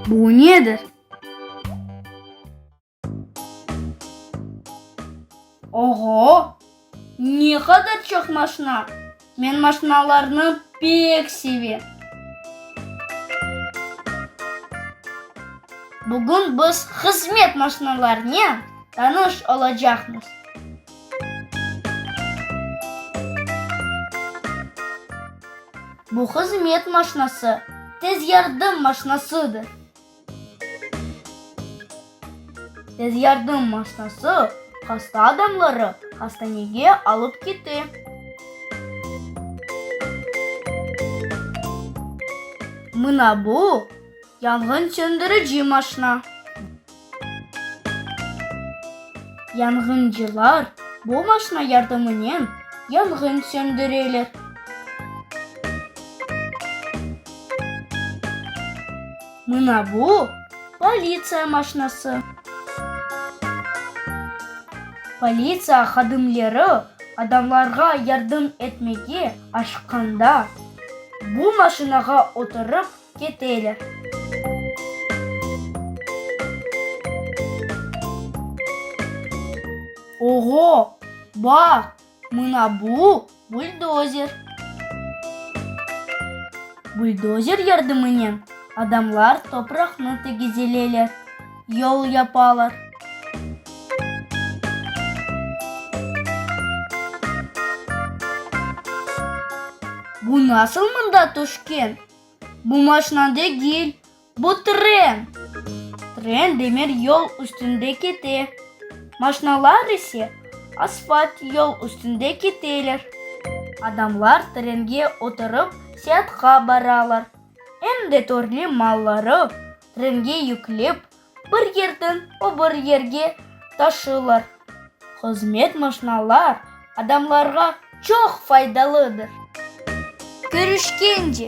Bu nedir? Oğo! Ne qadar çoq maşna! Men maşnalarnı pek sevem. Bugün biz hızmet maşnalarınen tanış olacaqmız. Bu hızmet maşnası tez yardım maşnasıdır. Tez yardım maşnası hasta adamları hastanege alıp kite. Mına bu, yanğın söndürici maşna. Yanğıncılar bu maşna yardımınen yanğın söndüreler. Mına bu, politsiya maşnası. Politsiya hadimleri adamlarğa yardım etmege aşıqqanda, bu maşinağa oturıp keteler. Oğo, baq, mına bu, buldozer. Buldozer yardımınen adamlar topraqnı tegizeleler, yol yapalar. Bu nasıl mında tüşken? Bu maşna degil, bu tren. Tren demir yol üstünde kete, maşnalar ise asfalt yol üstünde keteler. Adamlar trenge oturıp seatqa baralar, em de törlü malları trenge yüklep bir yerden o bir yerge taşılar. Hızmet maşnalar adamlarğa çoq faydalıdır. Körüşkence!